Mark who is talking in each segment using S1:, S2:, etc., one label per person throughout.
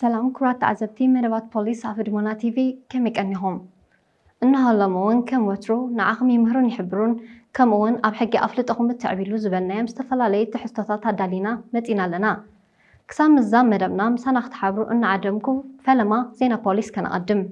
S1: ሰላም ክብራት ተዓዘብቲ መደባት ፖሊስ ኣብ ህድሞና ቲቪ ከመይ ቀኒኹም እንሆ ሎሚ ውን ከም ወትሩ ንዓኹም ይምህሩን ይሕብሩን ከምኡ ውን ኣብ ሕጊ ኣፍልጦኹም እተዕብይሉ ዝበልናዮም ዝተፈላለዩ ትሕዝቶታት ኣዳሊና መጺና ኣለና ክሳብ ምዝዛም መደብና ምሳና ክትሓብሩ እናዓደምኩ ፈለማ ዜና ፖሊስ ከነቐድም።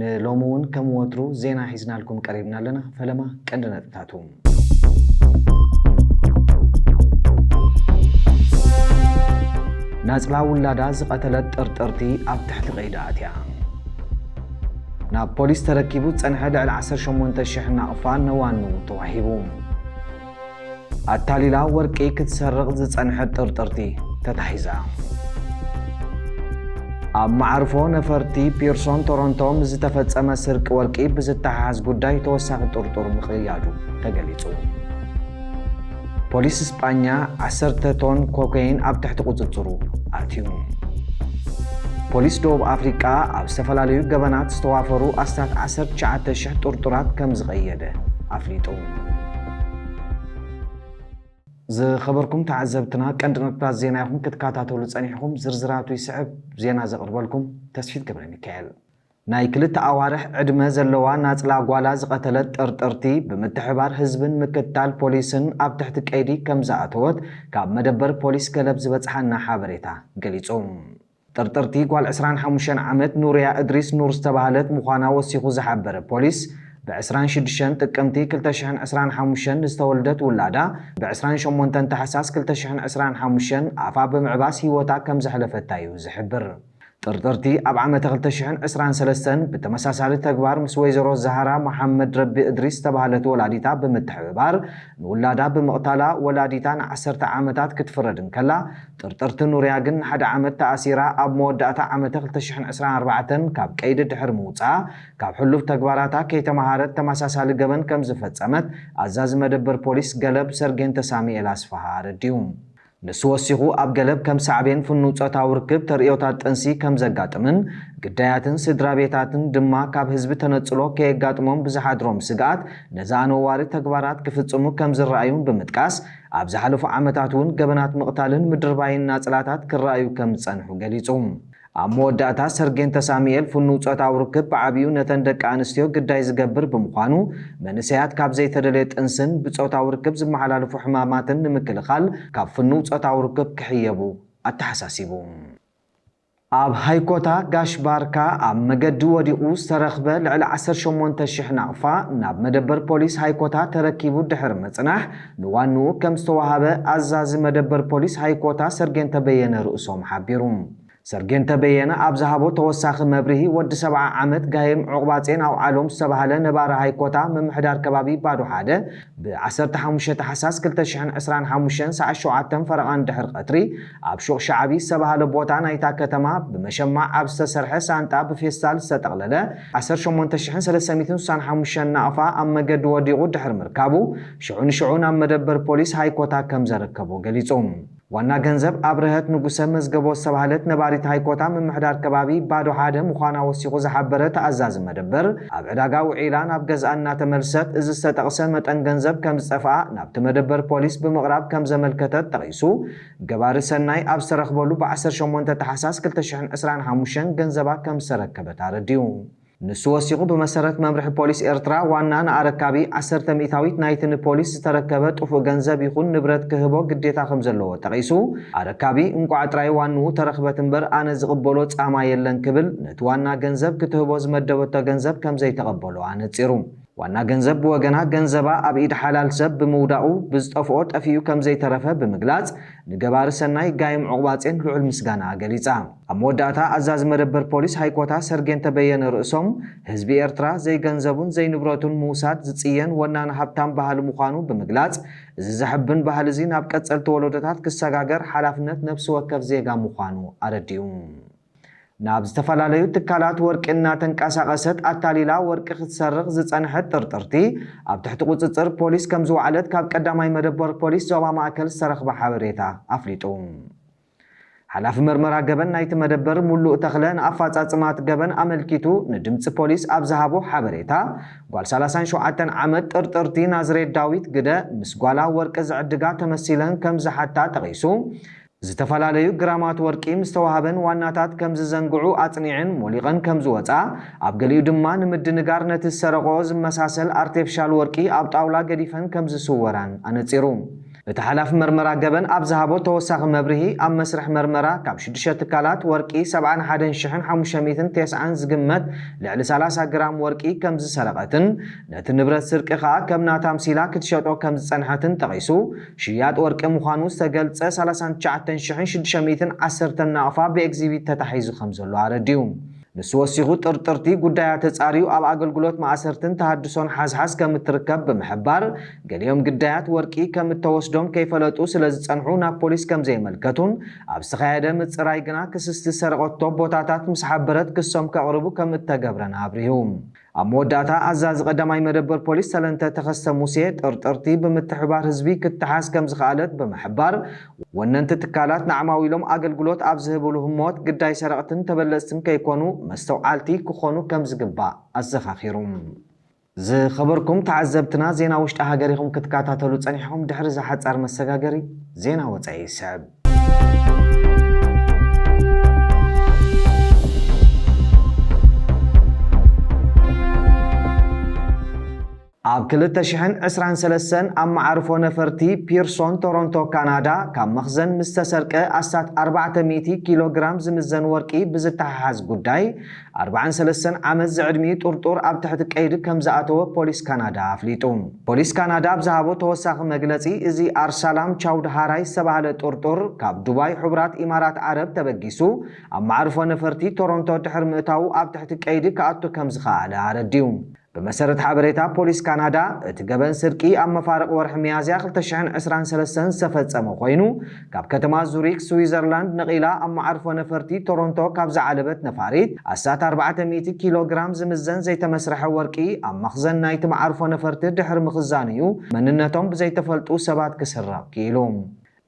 S2: ንሎሚ እውን ከም ወትሩ ዜና ሒዝናልኩም ቀሪብና ኣለና። ፈለማ ቀንዲ ነጥብታቱ። ናጽላ ውላዳ ዝቐተለት ጥርጥርቲ ኣብ ትሕቲ ቀይዲ ኣትያ። ናብ ፖሊስ ተረኪቡ ዝጸንሐ ልዕሊ ዓሰርተ ሸሞንተ ሽሕ ናቕፋ ነዋኑ ተዋሂቡ። ኣታሊላ ወርቂ ክትሰርቕ ዝጸንሐት ጥርጥርቲ ተታሒዛ። ኣብ መዓርፎ ነፈርቲ ፒርሶን ቶሮንቶ ምስ ዝተፈጸመ ስርቂ ወርቂ ብዝተሓሓዝ ጉዳይ ተወሳኺ ጥርጡር ምቕያዱ ተገሊጹ። ፖሊስ ስጳኛ ዓሰርተ ቶን ኮከይን ኣብ ትሕቲ ቁጽጽሩ ኣእትዩ። ፖሊስ ደቡብ ኣፍሪቃ ኣብ ዝተፈላለዩ ገበናት ዝተዋፈሩ ኣስታት ዓሰርተ ትሽዓተ ሽሕ ጥርጡራት ከምዝቐየደ ኣፍሊጡ። ዝኸበርኩም ተዓዘብትና ቀንዲ ነጥብታት ዜና ኢኹም ክትከታተሉ ጸኒሕኹም። ዝርዝራቱ ይስዕብ። ዜና ዘቕርበልኩም ተስፊት ገብረሚካኤል። ናይ ክልተ ኣዋርሕ ዕድመ ዘለዋ ናጽላ ጓላ ዝቐተለት ጠርጠርቲ፣ ብምትሕብባር ህዝብን ምክትታል ፖሊስን ኣብ ትሕቲ ቀይዲ ከምዝኣተወት ካብ መደበር ፖሊስ ገለብ ዝበጽሓና ሓበሬታ ገሊጹ። ጥርጥርቲ ጓል ዕስራን ሓሙሽተን ዓመት ኑርያ እድሪስ ኑር ዝተባህለት ምዃና ወሲኹ ዝሓበረ ፖሊስ፣ ብ ዕስራን ሽዱሽተን ጥቅምቲ ክልተ ሽሕን ዕስራን ሓሙሽተን ንዝተወልደት ውላዳ ብ ዕስራን ሸሞንተን ታሕሳስ ክልተ ሽሕን ዕስራን ሓሙሽተን ኣፋ ብምዕባስ ህይወታ ከምዘሕለፈታ'ዩ ዝሕብር። ጥርጥርቲ ኣብ ዓመተ ክልተ ሽሕን ዕስራን ሰለስተን ብተመሳሳሊ ተግባር ምስ ወይዘሮ ዛህራ መሓመድ ረቢ እድሪስ ዝተባህለት ወላዲታ ብምትሕብባር ንውላዳ ብምቕታላ ወላዲታ ንዓሰርተ ዓመታት ክትፍረድ እንከላ፣ ጥርጥርቲ ኑርያ ግን ንሓደ ዓመት ተኣሲራ ኣብ መወዳእታ ዓመተ ክልተ ሽሕን ዕስራን ኣርባዕተን ካብ ቀይዲ ድሕሪ ምውጽኣ ካብ ሕሉፍ ተግባራታ ከይተመሃረት ተመሳሳሊ ገበን ከምዝፈጸመት ኣዛዚ መደበር ፖሊስ ገለብ ሰርጌንተ ሳሚኤል ኣስፍሃ ኣረዲኡ። ንሱ ወሲኹ ኣብ ገለብ ከም ሳዕቤን ፍኑው ጾታዊ ርክብ ተርእዮታት ጥንሲ ከም ዘጋጥምን ግዳያትን ስድራ ቤታትን ድማ ካብ ህዝቢ ተነጽሎ ከየጋጥሞም ብዝሓድሮም ስግኣት ነዚ ኣነዋሪ ተግባራት ክፍጽሙ ከም ዝረኣዩን ብምጥቃስ ኣብ ዝሓለፉ ዓመታት እውን ገበናት ምቕታልን ምድርባይን ናጽላታት ክረኣዩ ከም ዝጸንሑ ገሊጹ። ኣብ መወዳእታ፣ ሰርጌን ተሳሙኤል ፍኑው ጾታዊ ርክብ ብዓቢኡ ነተን ደቂ ኣንስትዮ ግዳይ ዝገብር ብምዃኑ፣ መንእሰያት ካብ ዘይተደልየ ጥንስን ብጾታዊ ርክብ ዝመሓላለፉ ሕማማትን ንምክልኻል ካብ ፍኑው ጾታዊ ርክብ ክሕየቡ ኣተሓሳሲቡ። ኣብ ሃይኮታ ጋሽ ባርካ ኣብ መገዲ ወዲቑ ዝተረኽበ ልዕሊ ዓሰርተ ሸሞንተ ሽሕ ናቕፋ ናብ መደበር ፖሊስ ሃይኮታ ተረኪቡ ድሕሪ ምጽናሕ፣ ንዋንኡ ከም ዝተወሃበ ኣዛዚ መደበር ፖሊስ ሃይኮታ ሰርጌንተ በየነ ርእሶም ሓቢሩ። ሰርጌንተ በየነ ኣብ ዝሃቦ ተወሳኺ መብርሂ፣ ወዲ ሰብዓ ዓመት ጋይም ዑቕባጼን ኣውዓሎም ዝተባህለ ነባሪ ሃይኮታ ምምሕዳር ከባቢ ባዶ ሓደ ብ ዓሰርተ ሓሙሽተ ታሕሳስ ክልተ ሽሕን ዕስራን ሓሙሽተን ሰዓት ሸውዓተ ፈረቓን ድሕሪ ቐትሪ ኣብ ሹቕ ሸዓቢ ዝተባህለ ቦታ ናይታ ከተማ ብመሸማዕ ኣብ ዝተሰርሐ ሳንጣ ብፌስታል ዝተጠቕለለ ዓሰርተ ሸሞንተ ሽሕን ሰለስተ ሚእትን ስሳን ሓሙሽተን ናቕፋ ኣብ መገዲ ወዲቑ ድሕሪ ምርካቡ ሽዑ ንሽዑ ናብ መደበር ፖሊስ ሃይኮታ ከም ዘረከቦ ገሊጹ። ዋና ገንዘብ ኣብርሀት ንጉሰ መዝገቦ ዝተባህለት ነባሪት ሃይኮታ ምምሕዳር ከባቢ ባዶ ሓደ ምዃና ወሲኹ ዝሓበረ ተኣዛዚ መደበር፣ ኣብ ዕዳጋ ውዒላ ናብ ገዝኣ እናተመልሰት እዚ ዝተጠቕሰ መጠን ገንዘብ ከም ዝጠፍኣ ናብቲ መደበር ፖሊስ ብምቕራብ ከም ዘመልከተት ጠቒሱ ገባሪ ሰናይ ኣብ ዝተረኽበሉ ብ ዓሰርተ ሸሞንተ ታሕሳስ ክልተ ሽሕን ዕስራን ሓሙሽተን ገንዘባ ከም ዝተረከበት ኣረዲኡ። ንሱ ወሲኹ ብመሰረት መምርሒ ፖሊስ ኤርትራ ዋና ንኣረካቢ ዓሰርተ ሚእታዊት ናይቲ ንፖሊስ ዝተረከበ ጥፉእ ገንዘብ ይኹን ንብረት ክህቦ ግዴታ ከምዘለዎ ጠቒሱ ኣረካቢ እንቋዕ ጥራይ ዋንኡ ተረኽበት እምበር ኣነ ዝቕበሎ ጻማ የለን ክብል ነቲ ዋና ገንዘብ ክትህቦ ዝመደበቶ ገንዘብ ከምዘይተቐበሎ ኣነጺሩ። ዋና ገንዘብ ብወገና ገንዘባ ኣብ ኢድ ሓላል ሰብ ብምውዳቑ ብዝጠፍኦ ጠፊኡ ከምዘይተረፈ ብምግላጽ ንገባሪ ሰናይ ጋይም ዑቕባጼን ልዑል ምስጋናኣ ገሊጻ። ኣብ መወዳእታ ኣዛዚ መደበር ፖሊስ ሃይኮታ ሰርጌንተ በየነ ርእሶም፣ ህዝቢ ኤርትራ ዘይገንዘቡን ዘይንብረቱን ምውሳድ ዝጽየን ወናኒ ሃብታም ባህሊ ምዃኑ ብምግላጽ፣ እዚ ዘሐብን ባህሊ'ዚ ናብ ቀጸልቲ ወለዶታት ክሰጋገር ሓላፍነት ነብሲ ወከፍ ዜጋ ምዃኑ ኣረዲኡ። ናብ ዝተፈላለዩ ትካላት ወርቂ እናተንቀሳቐሰት ኣታሊላ ወርቂ ክትሰርቕ ዝጸንሐት ጥርጥርቲ፣ ኣብ ትሕቲ ቁጽጽር ፖሊስ ከምዝወዓለት ካብ ቀዳማይ መደበር ፖሊስ ዞባ ማእከል ዝተረኽበ ሓበሬታ ኣፍሊጡ። ሓላፊ መርመራ ገበን ናይቲ መደበር ሙሉእ ተኽለ ንኣፋፃፅማ እቲ ገበን ኣመልኪቱ ንድምፂ ፖሊስ ኣብ ዝሃቦ ሓበሬታ ጓል ሰላሳን ሸውዓተን ዓመት ጥርጥርቲ ናዝሬት ዳዊት ግደ ምስ ጓላ ወርቂ ዝዕድጋ ተመሲለን ከም ዝሓታ ጠቒሱ ዝተፈላለዩ ግራማት ወርቂ ምስ ተዋሃበን ዋናታት ከም ዝዘንግዑ ኣፅኒዐን ሞሊቐን ከም ዝወፃ ኣብ ገሊኡ ድማ ንምድንጋር ነቲ ዝሰረቐኦ ዝመሳሰል ኣርቴፍሻል ወርቂ ኣብ ጣውላ ገዲፈን ከም ዝስወራን ኣነፂሩ። እቲ ሓላፊ መርመራ ገበን ኣብ ዝሃቦ ተወሳኺ መብርሂ፣ ኣብ መስርሕ መርመራ ካብ ሽዱሽተ ትካላት ወርቂ ሰብዓን ሓደን ሽሕን ሓሙሽተ ሚእትን ቴስዓን ዝግመት ልዕሊ ሰላሳ ግራም ወርቂ ከምዝሰረቐትን ነቲ ንብረት ስርቂ ከኣ ከም ናታ ኣምሲላ ክትሸጦ ከምዝጸንሐትን ጠቒሱ ሽያጥ ወርቂ ምዃኑ ዝተገልጸ ሰላሳን ትሽዓተን ሽሕን ሽዱሽተ ሚእትን ዓሰርተን ናቕፋ ብኤግዚቢት ተታሒዙ ከምዘሎ ኣረዲኡ። ንሱ ወሲኹ ጥርጥርቲ ጉዳያ ተፃርዩ ኣብ ኣገልግሎት ማእሰርትን ተሃድሶን ሓዝሓዝ ከም እትርከብ ብምሕባር ገሊኦም ግዳያት ወርቂ ከም እተወስዶም ከይፈለጡ ስለ ዝፀንሑ ናብ ፖሊስ ከም ዘየመልከቱን ኣብ ዝተኻየደ ምፅራይ ግና ክስስቲ ዝሰረቐቶ ቦታታት ምስ ሓበረት ክሶም ከቕርቡ ከም እተገብረን ኣብሪሁ። ኣብ መወዳእታ ኣዛዚ ቀዳማይ መደበር ፖሊስ ሰለንተ ተኸስተ ሙሴ ጥርጥርቲ ብምትሕብባር ህዝቢ ክትሓዝ ከምዝኸኣለት ብምሕባር ወነንቲ ትካላት ንዓማዊሎም ኣገልግሎት ኣብ ዝህብሉ ህሞት ግዳይ ሰረቕትን ተበለፅትን ከይኮኑ መስተውዓልቲ ክኾኑ ከምዝግባእ ኣዘኻኺሩ። ዝኸበርኩም ተዓዘብትና ዜና ውሽጢ ሃገር ኢኹም ክትካታተሉ ፀኒሕኹም ድሕሪ እዚ ሓፃር መሰጋገሪ ዜና ወፃኢ ይስዕብ። ኣብ ክልተ ሽሕን ዕስራን ሰለስተን ኣብ መዓርፎ ነፈርቲ ፒርሶን ቶሮንቶ ካናዳ ካብ መኽዘን ምስ ተሰርቀ ኣስታት ኣርባዕተ ሚእቲ ኪሎ ግራም ዝምዘን ወርቂ ብዝተሓሓዝ ጉዳይ ኣርባዓን ሰለስተን ዓመት ዝዕድሚኡ ጥርጡር ኣብ ትሕቲ ቀይዲ ከምዝኣተወ ፖሊስ ካናዳ ኣፍሊጡ። ፖሊስ ካናዳ ኣብ ዝሃቦ ተወሳኺ መግለጺ፣ እዚ ኣርሳላም ቻውድሃራይ ዝተባህለ ጥርጡር ካብ ዱባይ ሕቡራት ኢማራት ዓረብ ተበጊሱ ኣብ መዓርፎ ነፈርቲ ቶሮንቶ ድሕሪ ምእታዉ ኣብ ትሕቲ ቀይዲ ክኣቱ ከምዝኸኣለ ኣረዲኡ። ብመሰረት ሓበሬታ ፖሊስ ካናዳ፣ እቲ ገበን ስርቂ ኣብ መፋርቕ ወርሒ ሚያዝያ ክልተ ሽሕን ዕስራን ሰለስተን ዝተፈጸመ ኮይኑ፣ ካብ ከተማ ዙሪክ ስዊዘርላንድ ነቒላ ኣብ መዓርፎ ነፈርቲ ቶሮንቶ ካብ ዝዓለበት ነፋሪት ኣስታት ኣርባዕተ ሚእቲ ኪሎ ግራም ዝምዘን ዘይተመስርሐ ወርቂ ኣብ መኽዘን ናይቲ መዓርፎ ነፈርቲ ድሕሪ ምኽዛኑ'ዩ መንነቶም ብዘይተፈልጡ ሰባት ክስረቕ ክኢሉ።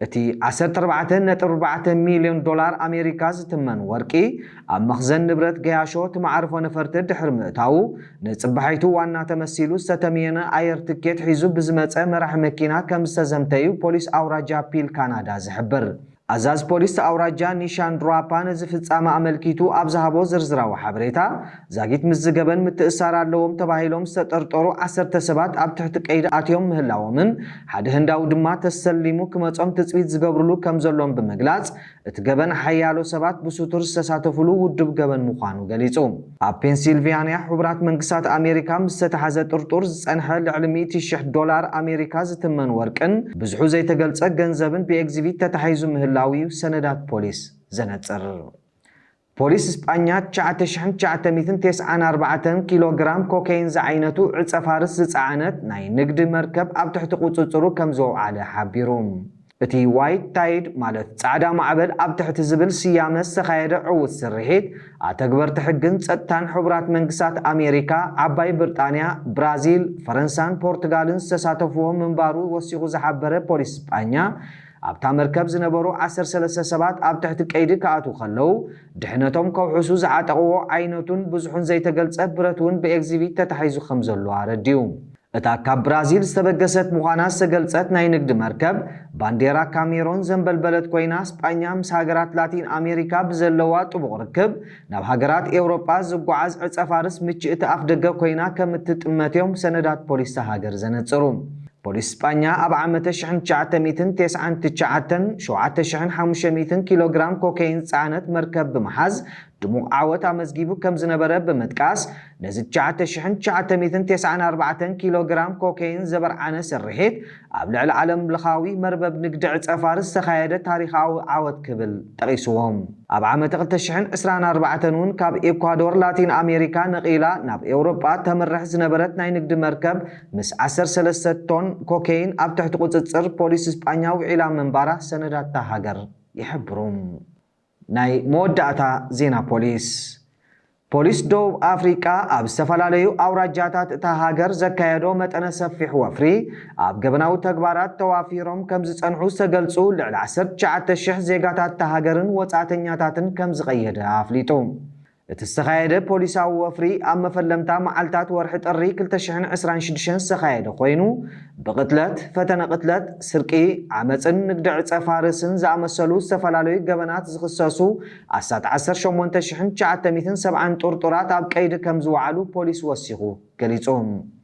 S2: እቲ ዓሰርተ ኣርባዕተ ነጥቢ ኣርባዕተ ሚልዮን ዶላር ኣሜሪካ ዝትመን ወርቂ፣ ኣብ መኽዘን ንብረት ገያሾ እቲ መዓርፎ ነፈርቲ ድሕሪ ምእታዉ፣ ንጽባሒቱ ዋና ተመሲሉ ዝተተምየነ ኣየር ትኬት ሒዙ ብዝመጸ መራሒ መኪና ከምዝተዘምተ'ዩ ፖሊስ ኣውራጃ ፒል ካናዳ ዝሕብር። ኣዛዚ ፖሊስ'ቲ ኣውራጃ ኒሻን ድራፓ ነዚ ፍጻመ ኣመልኪቱ ኣብ ዝሃቦ ዝርዝራዊ ሓበሬታ፣ ዛጊት ምስ ዝገበን ምትእስሳር ኣለዎም ተባሂሎም ዝተጠርጠሩ ዓሰርተ ሰባት ኣብ ትሕቲ ቀይዲ ኣትዮም ምህላዎምን ሓደ ህንዳዊ ድማ ተሰሊሙ ክመጾም ትጽቢት ዝገብርሉ ከምዘሎን ብምግላጽ እቲ ገበን ሓያሎ ሰባት ብሱቱር ዝተሳተፉሉ ውዱብ ገበን ምዃኑ ገሊጹ። ኣብ ፔንሲልቪያንያ ሕቡራት መንግስታት ኣሜሪካ ምስ ዝተታሕዘ ጥርጡር ዝጸንሐ ልዕሊ ሚእቲ ሽሕ ዶላር ኣሜሪካ ዝትመን ወርቅን ብዝሑ ዘይተገልጸ ገንዘብን ብኤግዚቪት ተታሒዙ ምህላዉ'ዩ ሰነዳት ፖሊስ ዘነጽር። ፖሊስ ስጳኛ ትሽዓተ ሽሕን ትሽዓተ ሚእትን ቴስዓን ኣርባዕተን ኪሎ ግራም ኮከይን ዝዓይነቱ ዕጸ ፋርስ ዝጸዓነት ናይ ንግዲ መርከብ ኣብ ትሕቲ ቁጽጽሩ ከም ዘውዓለ ሓቢሩ። እቲ ዋይት ታይድ ማለት ጻዕዳ ማዕበል ኣብ ትሕቲ ዝብል ስያመ ዝተኻየደ ዕዉት ስርሒት፣ ኣተግበርቲ ሕግን ጸጥታን ሕቡራት መንግስታት ኣሜሪካ፣ ዓባይ ብርጣንያ፣ ብራዚል፣ ፈረንሳን ፖርቱጋልን ዝተሳተፍዎ ምንባሩ ወሲኹ ዝሓበረ ፖሊስ ስጳኛ፣ ኣብታ መርከብ ዝነበሩ ዓሰርተ ሰለስተ ሰባት ኣብ ትሕቲ ቀይዲ ክኣትዉ ከለዉ ድሕነቶም ከውሕሱ ዝዓጠቕዎ ዓይነቱን ብዝሑን ዘይተገልጸ ብረት እውን ብኤግዚቪት ተታሒዙ ከም ዘሎ ኣረዲኡ። እታ ካብ ብራዚል ዝተበገሰት ምዃና ዝተገልጸት ናይ ንግዲ መርከብ፣ ባንዴራ ካሜሮን ዘንበልበለት ኮይና፣ ስጳኛ ምስ ሃገራት ላቲን ኣሜሪካ ብዘለዋ ጥቡቕ ርክብ፣ ናብ ሃገራት ኤውሮጳ ዝጓዓዝ ዕጸፋርስ ምችእቲ ኣፍደገ ኮይና ከም እትጥመት'ዮም ሰነዳት ፖሊስ'ታ ሃገር ዘነጽሩ። ፖሊስ ስጳኛ ኣብ ዓመተ ሽሕን ትሽዓተ ሚእትን ቴስዓን ትችዓተን፣ ሸውዓተ ሽሕን ሓሙሽተ ሚእትን ኪሎግራም ኮከይን ዝጸዓነት መርከብ ብምሓዝ ድሙቕ ዓወት ኣመዝጊቡ ከም ዝነበረ ብምጥቃስ፣ ነዚ ትሽዓተ ሽሕን ትሽዓተ ሚእትን ቴስዓን ኣርባዕተን ኪሎግራም ኮከይን ዘበርዓነ ስርሒት፣ ኣብ ልዕሊ ዓለምለኻዊ መርበብ ንግዲ ዕጸ-ፋርስ ዝተኻየደ ታሪኻዊ ዓወት ክብል ጠቒስዎ። ኣብ ዓመተ ክልተ ሽሕን ዕስራን ኣርባዕተን እውን ካብ ኤኳዶር ላቲን ኣሜሪካ ነቒላ ናብ ኤውሮጳ ተምርሕ ዝነበረት ናይ ንግዲ መርከብ ምስ ዓሰርተ ሰለስተ ቶን ኮከይን ኣብ ትሕቲ ቁጽጽር ፖሊስ ስጳኛ ውዒላ ምንባራ ሰነዳት'ታ ሃገር ይሕብሩ። ናይ መወዳእታ ዜና ፖሊስ ፖሊስ ደቡብ ኣፍሪቃ ኣብ ዝተፈላለዩ ኣውራጃታት እታ ሃገር ዘካየዶ መጠነ ሰፊሕ ወፍሪ ኣብ ገበናዊ ተግባራት ተዋፊሮም ከምዝጸንሑ ዝተገልጹ ልዕሊ ዓሰርተ ትሽዓተ ሽሕ ዜጋታት እታ ሃገርን ወጻእተኛታትን ከምዝቐየደ ኣፍሊጡ። እቲ ዝተኻየደ ፖሊሳዊ ወፍሪ ኣብ መፈለምታ መዓልታት ወርሒ ጥሪ ክልተ ሽሕን ዕስራን ሽዱሽተን ዝተኻየደ ኮይኑ፣ ብቕትለት፣ ፈተነ ቅትለት፣ ስርቂ፣ ዓመጽን ንግዲ ዕጸ ፋርስን ዝኣመሰሉ ዝተፈላለዩ ገበናት ዝኽሰሱ ኣስታት ዓሰርተ ሸሞንተ ሽሕን ትሽዓተ ሚእትን ሰብዓን ጥርጡራት ኣብ ቀይዲ ከምዝወዓሉ ፖሊስ ወሲኹ ገሊጹ።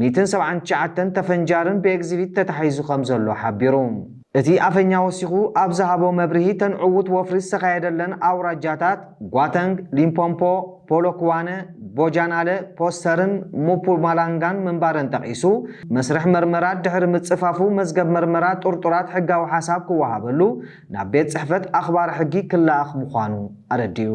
S2: ሚእትን ሰብዓን ትሽዓተን ተፈንጃርን ብኤግዚቪት ተታሒዙ ከምዘሎ ሓቢሩ። እቲ ኣፈኛ ወሲኹ ኣብ ዝሃቦ መብርሂ እተን ዕዉት ወፍሪ ዝተኻየደለን ኣውራጃታት ጓተንግ፣ ሊምፖምፖ፣ ፖሎክዋነ፣ ቦጃናለ፣ ፖስተርን ሙፑማላንጋን ምንባረን ጠቒሱ መስርሕ መርመራ ድሕሪ ምጽፋፉ መዝገብ መርመራ ጥርጡራት ሕጋዊ ሓሳብ ክወሃበሉ ናብ ቤት ጽሕፈት ኣኽባሪ ሕጊ ክለኣኽ ምዃኑ ኣረዲኡ።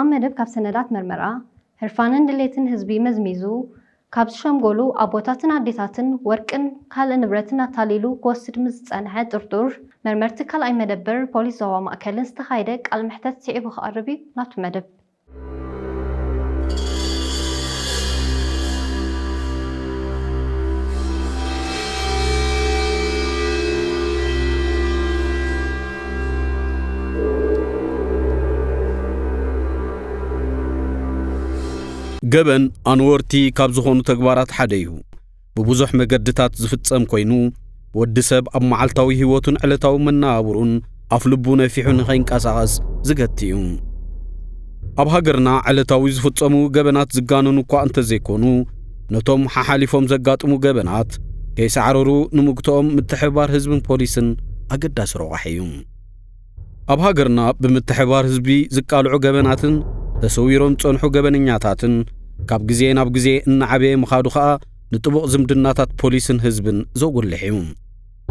S1: ኣብ መደብ ካብ ሰነዳት መርመራ፣ ህርፋንን ድሌትን ህዝቢ መዝሚዙ፣ ካብ ዝሸምገሉ ኣቦታትን ኣዴታትን ወርቅን ካልእ ንብረትን ኣታሊሉ ክወስድ ምስ ዝጸንሐ ጥርጡር፣ መርመርቲ ካልኣይ መደበር ፖሊስ ዞባ ማእከልን ዝተኻየደ ቃል መሕተት ስዒቡ ክቐርብ እዩ ናቱ መደብ።
S3: ገበን ኣንወርቲ ካብ ዝኾኑ ተግባራት ሓደ እዩ። ብብዙሕ መገድታት ዝፍጸም ኮይኑ ወዲ ሰብ ኣብ መዓልታዊ ህይወቱን ዕለታዊ መነባብሩን ኣፍልቡ ነፊሑ ንኸይንቀሳቐስ ዝገቲ እዩ። ኣብ ሃገርና ዕለታዊ ዝፍጸሙ ገበናት ዝጋነኑ እኳ እንተዘይኮኑ ነቶም ሓሓሊፎም ዘጋጥሙ ገበናት ከይሳዕረሩ ንምግትኦም ምትሕብባር ህዝብን ፖሊስን ኣገዳሲ ረቋሒ እዩ። ኣብ ሃገርና ብምትሕብባር ህዝቢ ዝቃልዑ ገበናትን ተሰዊሮም ዝጸንሑ ገበነኛታትን ካብ ግዜ ናብ ግዜ እናዓበየ ምኻዱ ኸኣ ንጥቡቕ ዝምድናታት ፖሊስን ህዝብን ዘጉልሕ እዩ።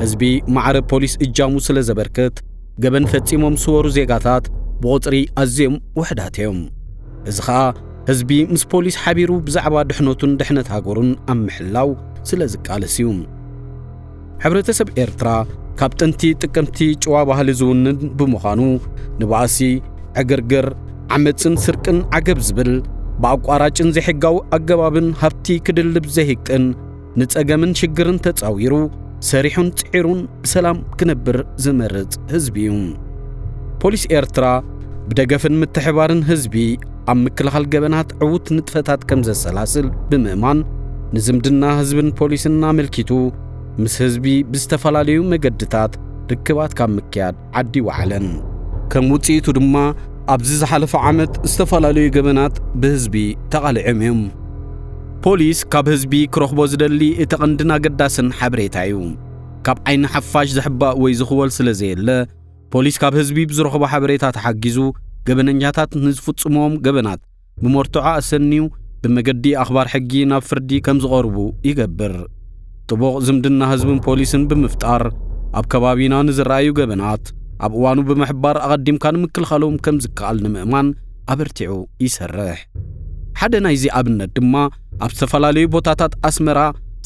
S3: ህዝቢ ማዕረ ፖሊስ እጃሙ ስለ ዘበርክት ገበን ፈጺሞም ዝስወሩ ዜጋታት ብቑጽሪ ኣዝዮም ውሕዳት እዮም። እዚ ኸኣ ህዝቢ ምስ ፖሊስ ሓቢሩ ብዛዕባ ድሕነቱን ድሕነት ሃገሩን ኣብ ምሕላው ስለ ዝቃለስ እዩ። ሕብረተሰብ ኤርትራ ካብ ጥንቲ ጥቅምቲ ጭዋ ባህሊ ዝውንን ብምዃኑ ንባእሲ፣ ዕግርግር፣ ዓመጽን ስርቅን ዓገብ ዝብል ብኣቋራጭን ዘይሕጋዊ ኣገባብን ሃብቲ ክድልብ ዘይህቅን ንጸገምን ሽግርን ተጻዊሩ ሰሪሑን ጽዒሩን ብሰላም ክነብር ዝመርጽ ህዝቢ እዩ። ፖሊስ ኤርትራ ብደገፍን ምትሕባርን ህዝቢ ኣብ ምክልኻል ገበናት ዕዉት ንጥፈታት ከም ዘሰላስል ብምእማን ንዝምድና ህዝብን ፖሊስን ኣመልኪቱ ምስ ህዝቢ ብዝተፈላለዩ መገድታት ርክባት ካብ ምክያድ ዓዲ ወዓለን። ከም ውጽኢቱ ድማ ኣብዚ ዝሓለፈ ዓመት ዝተፈላለዩ ገበናት ብህዝቢ ተቓሊዖም እዮም። ፖሊስ ካብ ህዝቢ ክረኽቦ ዝደሊ እቲ ቐንድን ኣገዳስን ሓበሬታ እዩ። ካብ ዓይኒ ሓፋሽ ዝሕባእ ወይ ዝኽወል ስለ ዘየለ፣ ፖሊስ ካብ ህዝቢ ብዝረኽቦ ሓበሬታ ተሓጊዙ ገበነኛታት ንዝፍጽምዎም ገበናት ብመርትዖ ኣሰንዩ ብመገዲ ኣኽባር ሕጊ ናብ ፍርዲ ከም ዝቐርቡ ይገብር። ጥቡቕ ዝምድና ህዝብን ፖሊስን ብምፍጣር ኣብ ከባቢና ንዝረኣዩ ገበናት ኣብ እዋኑ ብምሕባር ኣቐዲምካ ንምክልኻሎም ከም ዝከኣል ንምእማን ኣበርቲዑ ይሰርሕ። ሓደ ናይዚ ኣብነት ድማ ኣብ ዝተፈላለዩ ቦታታት ኣስመራ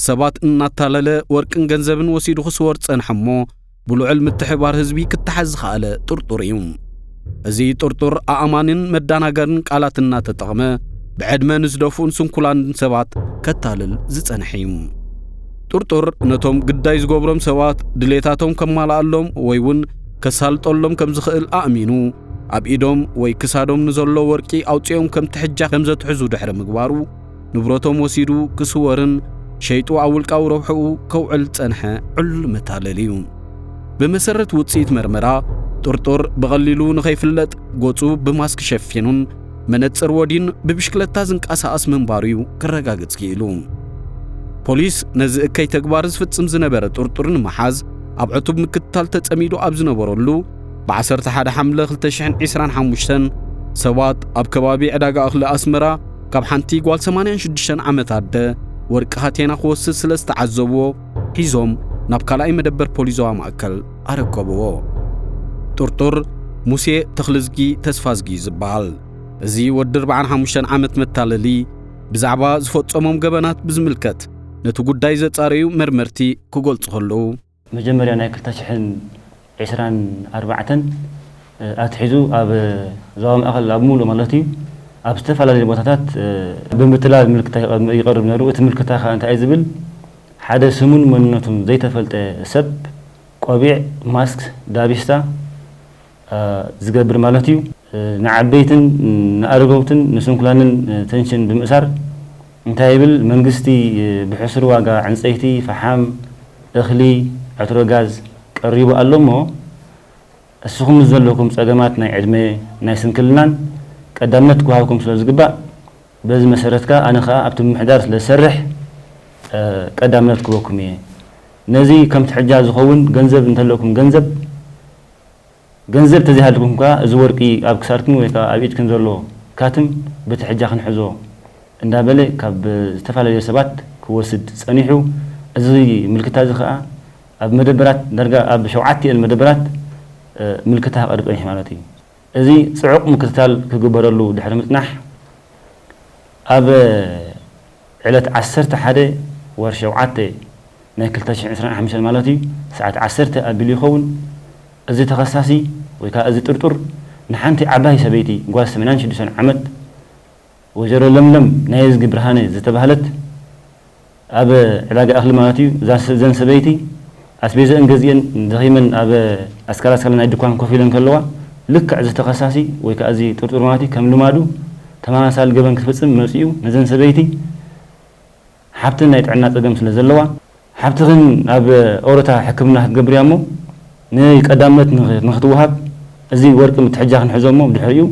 S3: ሰባት እናታለለ ወርቅን ገንዘብን ወሲዱ ክስወር ዝጸንሐ እሞ ብልዑል ምትሕባር ህዝቢ ክተሓዝ ዝኸኣለ ጥርጡር እዩ። እዚ ጥርጡር ኣእማንን መዳናገርን ቃላት እናተጠቕመ ብዕድመ ንዝደፍኡን ስንኩላንን ሰባት ከታልል ዝጸንሐ እዩ። ጥርጡር ነቶም ግዳይ ዝገብሮም ሰባት ድሌታቶም ከማልኣሎም ወይ እውን ከሳልጠሎም ከም ዝኽእል ኣእሚኑ ኣብ ኢዶም ወይ ክሳዶም ንዘሎ ወርቂ ኣውጺኦም ከም ትሕጃ ከም ዘትሕዙ ድሕሪ ምግባሩ ንብረቶም ወሲዱ ክስወርን ሸይጡ ኣብ ውልቃዊ ረብሕኡ ከውዕል ዝጸንሐ ዕሉል መታለሊ እዩ። ብመሰረት ውጽኢት መርመራ፣ ጥርጡር ብቐሊሉ ንኸይፍለጥ ገጹ ብማስክ ሸፊኑን መነጽር ወድዩን ብብሽክለታ ዝንቀሳቐስ ምንባሩ'ዩ ክረጋገጽ ክኢሉ። ፖሊስ ነዚ እከይ ተግባር ዝፍጽም ዝነበረ ጥርጡር ንምሓዝ ኣብ ዕቱብ ምክትታል ተጸሚዱ ኣብ ዝነበረሉ፣ ብዓሰርተ ሓደ ሓምለ ክልተ ሽሕን ዒስራን ሓሙሽተን ሰባት ኣብ ከባቢ ዕዳጋ እኽሊ ኣስመራ ካብ ሓንቲ ጓል ሰማንያን ሽዱሽተን ዓመት ኣደ ወርቂ ሃቴና ክወስድ ስለ ዝተዓዘብዎ ሒዞም ናብ ካልኣይ መደበር ፖሊስ ዞባ ማእከል ኣረከብዎ። ጥርጡር ሙሴ ተኽልዝጊ ተስፋዝጊ እዩ ዝበሃል። እዚ ወዲ ኣርብዓን ሓሙሽተን ዓመት መታለሊ ብዛዕባ ዝፈጸሞም ገበናት ብዝምልከት ነቲ ጉዳይ ዘጻረዩ መርመርቲ ክገልጹ ከለዉ መጀመርያ ናይ ክልተ
S4: ሽሕን ዕስራን ኣርባዕተን ኣትሒዙ ኣብ ዞባ ማእከል ኣብ ምሉእ ማለት እዩ ኣብ ዝተፈላለዩ ቦታታት ብምትላል ምልክታ ይቐርብ ነይሩ። እቲ ምልክታ ከኣ እንታይ እዩ ዝብል ሓደ ስሙን መንነቱን ዘይተፈልጠ ሰብ ቆቢዕ፣ ማስክ፣ ዳቢስታ፣ ዝገብር ማለት እዩ። ንዓበይትን ንኣረገውትን ንስንኩላንን ተንሽን ብምእሳር እንታይ ይብል መንግስቲ ብሕሱር ዋጋ ዕንጸይቲ፣ ፈሓም፣ እኽሊ፣ ዕትሮ ጋዝ ቀሪቡ ኣሎ እሞ እስኹም ምስ ዘለኩም ጸገማት ናይ ዕድመ ናይ ስንክልናን ቀዳምነት ክወሃብኩም ስለ ዝግባእ በዚ መሰረት ከኣ ኣነ ከኣ ኣብቲ ምምሕዳር ስለ ዝሰርሕ ቀዳምነት ክበኩም እየ ነዚ ከም ትሕጃ ዝኸውን ገንዘብ እንተለኩም ገንዘብ ገንዘብ ተዘይሃልዩኩም ከኣ እዚ ወርቂ ኣብ ክሳድክን ወይ ከኣ ኣብ ኢድክን ዘሎ ካትም በቲ ሕጃ ክንሕዞ እንዳበለ ካብ ዝተፈላለዩ ሰባት ክወስድ ጸኒሑ እዚ ምልክታ እዚ ከኣ ኣብ መደበራት ዳርጋ ኣብ ሸውዓቲኤን መደበራት ምልክታ ክቀርብ ጸኒሑ ማለት እዩ እዚ ጽዑቅ ምክትታል ክግበረሉ ድሕሪ ምጽናሕ ኣብ ዕለት ዓሰርተ ሓደ ወርሒ ሸውዓተ ናይ ክልተ ሽሕን ዕስራን ሓሙሽተን ማለት እዩ ሰዓት ዓሰርተ ኣቢሉ ይኸውን እዚ ተኸሳሲ ወይ ከኣ እዚ ጥርጡር ንሓንቲ ዓባይ ሰበይቲ ጓል ሰማንያን ሽዱሽተን ዓመት ወይዘሮ ለምለም ናየዝጊ ብርሃነ ዝተባህለት ኣብ ዕዳጋ እኽሊ ማለት እዩ እዘን ሰበይቲ ኣስቤዘእን ገዚኤን ደኺመን ኣብ ኣስካላስካላ ናይ ድኳን ኮፍ ኢለን ከለዋ፣ ልክዕ እዚ ተኸሳሲ ወይ ከኣ እዚ ጥርጡር መዋቲ ከም ልማዱ ተመሳሳሊ ገበን ክትፍጽም መጺኡ ነዘን ሰበይቲ ሓብተን ናይ ጥዕና ጸገም ስለ ዘለዋ፣ ሓብትኽን ኣብ ኦሮታ ሕክምና ክትገብር እያ እሞ ንይ ቀዳምነት ንክትወሃብ እዚ ወርቂ ምትሕጃኽን ሕዞ እሞ ብድሕሪኡ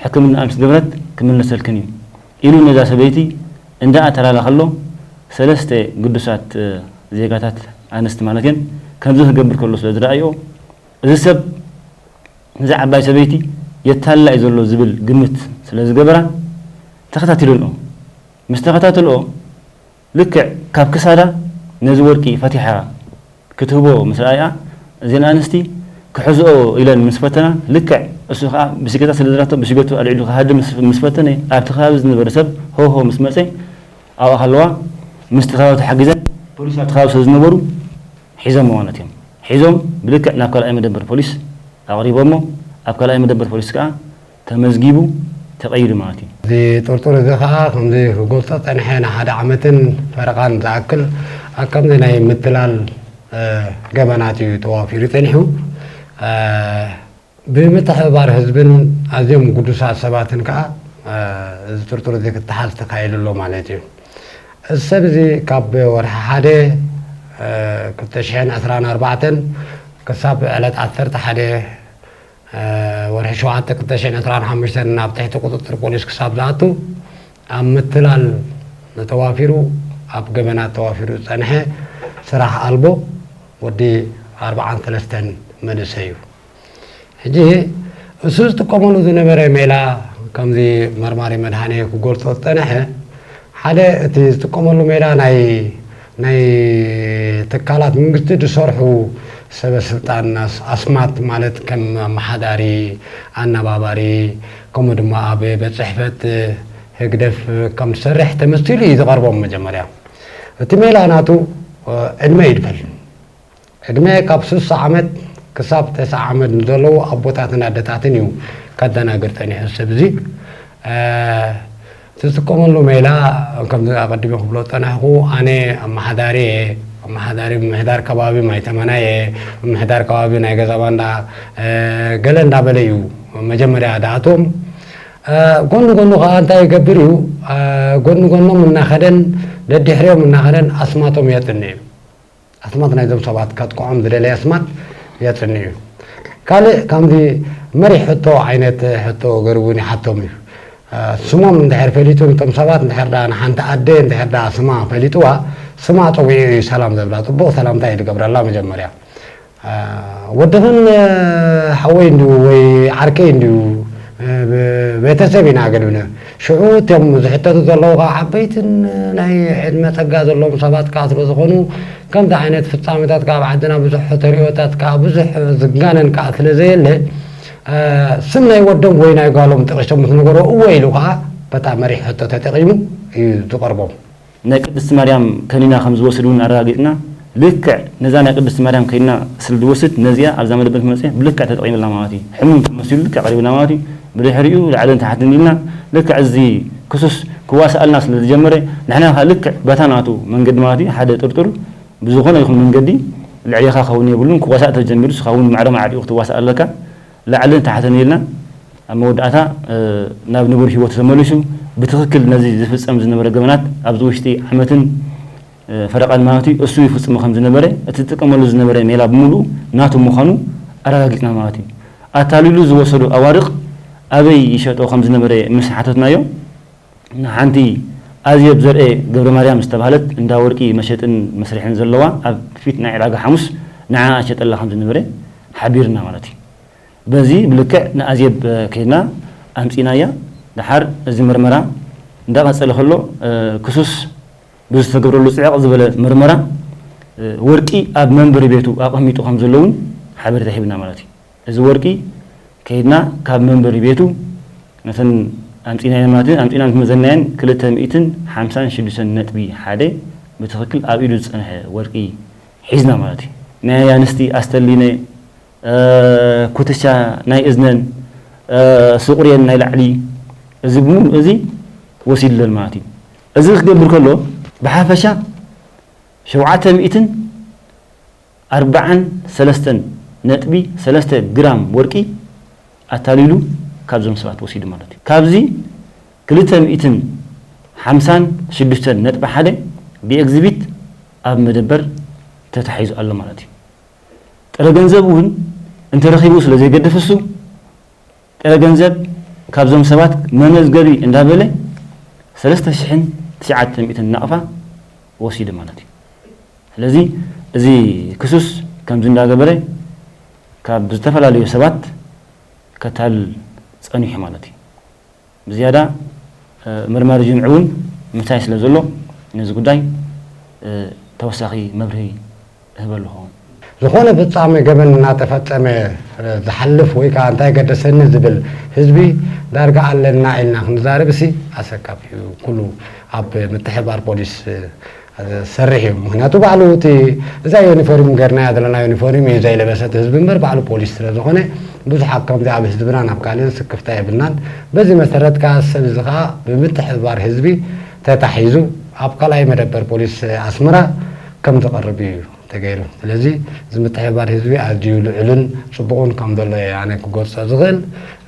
S4: ሕክምናኣ ምስ ገበረት ክምለሰልክን እዩ ኢሉ ነዛ ሰበይቲ እንዳ ኣተላላ ከሎ ሰለስተ ግዱሳት ዜጋታት ኣንስቲ ማለት እየን ከምዚ ክገብር ከሎ ስለ ዝረኣይኦ እዚ ሰብ ነዛ ዓባይ ሰበይቲ የታልላ እዩ ዘሎ ዝብል ግምት ስለ ዝገበራ ተኸታቲለንኦ ምስ ተኸታተልኦ ልክዕ ካብ ክሳዳ ነዚ ወርቂ ፈቲሓ ክትህቦ ምስ ረኣይኣ፣ እዘን ኣንስቲ ክሕዝኦ ኢለን ምስ ፈተና፣ ልክዕ እሱ ከኣ ብሽገታ ስለ ዘላቶ ብሽገቱ ኣልዒሉ ክሃድም ምስ ፈተነ፣ ኣብቲ ከባቢ ዝነበረ ሰብ ሆው ሆው ምስ መጸ፣ ኣብኣ ከለዋ ምስቲ ከባቢ ተሓጊዘን፣ ፖሊስ ኣብቲ ከባቢ ስለ ዝነበሩ ሒዘምዋ ነትዮም። ሒዞም ብልክዕ ናብ ካልኣይ መደበር ፖሊስ ኣቕሪቦሞ፣ ኣብ ካልኣይ መደበር ፖሊስ ከኣ፣ ተመዝጊቡ ተቐይዱ ማለት እዩ። እዚ ጥርጡር እዚ
S5: ከኣ ከምዚ ክገልጾ ጸኒሐ ንሓደ ዓመትን ፈረቓን ዝኣክል ኣብ ከምዚ ናይ ምትላል ገበናት እዩ ተዋፊሩ ጸኒሑ። ብምትሕብባር ህዝብን ኣዝዮም ግዱሳት ሰባትን ከኣ እዚ ጥርጡር እዚ ክተሓዝ ተካኢሉ ኣሎ ማለት እዩ። እዚ ሰብ እዚ ካብ ወርሒ ሓደ ክልተ ሽሕን ዕስራን ኣርባዕተን ክሳብ ዕለት ዓሰርተ ሓደ ወርሒ ሸውዓተ ክልተ ሽሕን ዕስራን ሓሙሽተን ናብ ትሕቲ ቁፅፅር ፖሊስ ክሳብ ዝኣቱ ኣብ ምትላል ተዋፊሩ ኣብ ገበናት ተዋፊሩ ዝፀንሐ ስራሕ ኣልቦ ወዲ ኣርብዓን ሰለስተን መንእሰይ እዩ። ሕጂ እሱ ዝጥቀመሉ ዝነበረ ሜላ ከምዚ መርማሪ መድሃኔ ክገልፆ ዝፀንሐ ሓደ እቲ ዝጥቀመሉ ሜላ ናይ ናይ ትካላት ምንግስቲ ዝሰርሑ ሰበ ስልጣን ኣስማት ማለት ከም ኣማሓዳሪ፣ ኣናባባሪ ከምኡ ድማ ኣብ ቤት ጽሕፈት ህግደፍ ከም ዝሰርሕ ተመሲሉ እዩ ዝቐርቦም መጀመርያ እቲ ሜላ ናቱ ዕድመ ይድፈል። ዕድመ ካብ ስሳ ዓመት ክሳብ ተስዓ ዓመት ንዘለዉ ኣቦታትን ኣደታትን እዩ ከደናግር ጸኒሑ እዚ ሰብ እዚ። ዝጥቀመሉ ሜላ ከምዚ ኣቐዲመ ክብሎ ዝጸናሕኩ ኣነ ኣመሓዳሪ እየ፣ ኣመሓዳሪ ምምሕዳር ከባቢ ማይ ተመና እየ፣ ምምሕዳር ከባቢ ናይ ገዛ ባንዳ ገለ እንዳበለ እዩ መጀመርያ ዝኣትዎም። ጎኒ ጎኑ ከኣ እንታይ ይገብር እዩ ጎኒ ጎኖም እናኸደን ደዲሕሪኦም እናኸደን ኣስማቶም የጽንዕ እዩ። ኣስማት ናይዞም ሰባት ከጥቅዖም ዝደለየ ኣስማት የጽንዕ እዩ። ካልእ ከምዚ መሪሕ ሕቶ ዓይነት ሕቶ ገሩ እውን ይሓቶም እዩ። ስሞም እንድሕር ፈሊጡ ንቶም ሰባት እንድሕር ደኣ ንሓንቲ ኣደ እንድሕር ደኣ ስማ ፈሊጥዋ ስማ ጸዊዑ እዩ ሰላም ዘብላ ጽቡቕ ሰላምታ እዩ ዝገብረላ መጀመርያ ወድኽን ሓወይ እንድዩ ወይ ዓርከይ እንድዩ ቤተሰብ ኢና ገድብነ ሽዑ እቶም ዝሕተቱ ዘለዉ ከኣ ዓበይትን ናይ ዕድመ ጸጋ ዘለዎም ሰባት ከኣ ስለ ዝኾኑ ከምዚ ዓይነት ፍጻሜታት ከኣ ኣብ ዓድና ብዙሕ ተርእዮታት ከኣ ብዙሕ ዝጋነን ከኣ ስለ ዘየለ ስም ናይ ወዶም ወይ ናይ ጓሎም ጠቒሶም ምስ ነገርዎ እወ ኢሉ ከኣ በታ መሪሕ ሕቶ ተጠቒሙ እዩ ዝቐርቦም። ናይ ቅድስቲ
S4: ማርያም ከኒና ከም ዝወስድ ውን ኣረጋጊጽና ልክዕ ነዛ ናይ ቅድስቲ ማርያም ከኒና ስለ ዝወስድ ነዚኣ ኣብዛ መደበር ክመጽእ ብልክዕ ተጠቂምላ ማለት እዩ ሕሙም ከም መሲሉ ልክዕ ቀሪብና ማለት እዩ ብድሕሪኡ ላዕልን ታሕትን ኢልና ልክዕ እዚ ክሱስ ክዋሳኣልና ስለ ዝጀመረ ንሕና ከኣ ልክዕ በታ ናቱ መንገዲ ማለት እዩ ሓደ ጥርጡር ብዝኾነ ይኹን መንገዲ ልዕሌኻ ክኸውን የብሉን ክዋሳእ ተጀሚሩ ንስኻ ውን ማዕረ ማዕሪኡ ክትዋሳእ ኣለካ ላዕልን ታሕትን ኢልና ኣብ መወዳእታ ናብ ንቡር ሂወቱ ተመሊሱ ብትኽክል ነዚ ዝፍጸም ዝነበረ ገበናት ኣብዚ ውሽጢ ዓመትን ፈረቓን ማለት እዩ እሱ ይፍጽሞ ከም ዝነበረ እቲ ዝጥቀመሉ ዝነበረ ሜላ ብምሉኡ ናቱ ምዃኑ ኣረጋጊጽና ማለት እዩ። ኣታሊሉ ዝወሰዶ ኣዋርቕ ኣበይ ይሸጦ ከም ዝነበረ ምስ ሓተትናዮ፣ ንሓንቲ ኣዜብ ዘርኤ ገብረማርያም ዝተባህለት እንዳ ወርቂ መሸጥን መስርሕን ዘለዋ ኣብ ፊት ናይ ዕዳጋ ሓሙስ ንዓኣ ሸጠላ ከም ዝነበረ ሓቢርና ማለት እዩ። በዚ ብልክዕ ንኣዜብ ከይድና ኣምጺእናያ። ደሓር እዚ መርመራ እንዳቐጸለ ከሎ ክሱስ ብዝተገብረሉ ጽዕቕ ዝበለ መርመራ ወርቂ ኣብ መንበሪ ቤቱ ኣቐሚጡ ከም ዘሎ'ውን ሓበሬታ ሂብና ማለት እዩ። እዚ ወርቂ ከይድና ካብ መንበሪ ቤቱ ነተን ኣምጺእናየን ማለት ኣምጺእናን ዝመዘናየን ክልተ ሚእትን ሓምሳን ሽዱሽተን ነጥቢ ሓደ ብትኽክል ኣብ ኢዱ ዝጸንሐ ወርቂ ሒዝና ማለት እዩ። ናይ ኣንስቲ ኣስተሊነ፣ ኩትቻ ናይ እዝነን፣ ሱቑርየን ናይ ላዕሊ እዚ ብምሉእ እዚ ወሲድለን ማለት እዩ። እዚ ክገብር ከሎ ብሓፈሻ ሸውዓተ ሚእትን፣ ኣርባዓን ሰለስተን ነጥቢ ሰለስተ ግራም ወርቂ ኣታሊሉ ካብዞም ሰባት ወሲዱ ማለት እዩ። ካብዚ ክልተ ሚእትን ሓምሳን ሽዱሽተን ነጥቢ ሓደ ብኤግዚቢት ኣብ መደበር ተታሒዙ ኣሎ ማለት እዩ። ጥረ ገንዘብ እውን እንተረኺቡ ስለዘይገድፍ እሱ ጥረ ገንዘብ ካብዞም ሰባት መመዝገቢ እንዳበለ ሰለስተ ሽሕን ትሽዓተ ሚእትን ናቕፋ ወሲዱ ማለት እዩ። ስለዚ እዚ ክሱስ ከምዚ እንዳገበረ ካብ ዝተፈላለዩ ሰባት ከታልል ጸኒሑ ማለት እዩ። ብዝያዳ መርማሪ ጅምዒ እውን ምሳይ ስለዘሎ ነዚ ጉዳይ ተወሳኺ መብርሂ እህበልኹ። ዝኾነ
S5: ፍጻመ ገበን እናተፈጸመ ዝሓልፍ ወይ ከኣ እንታይ ገደሰኒ ዝብል ህዝቢ ዳርጋ ኣለና ኢልና ክንዛረብሲ ኣሰካፊ እዩ። ኩሉ ኣብ ምትሕብባር ፖሊስ ዝሰርሕ እዩ። ምኽንያቱ ባዕሉ እቲ እዛ ዩኒፎርም ገርናያ ዘለና ዩኒፎርም እዩ ዘይለበሰ እቲ ህዝቢ እምበር ባዕሉ ፖሊስ ስለ ዝኾነ ብዙሓት ከምዚ ኣብ ህዝብናን ኣብ ካልእን ስክፍታ የብልናን። በዚ መሰረት ከኣ እዚ ሰብ እዚ ከኣ ብምትሕብባር ህዝቢ ተታሒዙ ኣብ ካልኣይ መደበር ፖሊስ ኣስመራ ከም ዝቐርብ ኢዩ ተገይሩ። ስለዚ እዚ ምትሕብባር ህዝቢ ኣዝዩ ልዑልን ጽቡቕን ከም ዘሎ ኢየ ኣነ ክገልጾ ዝኽእል።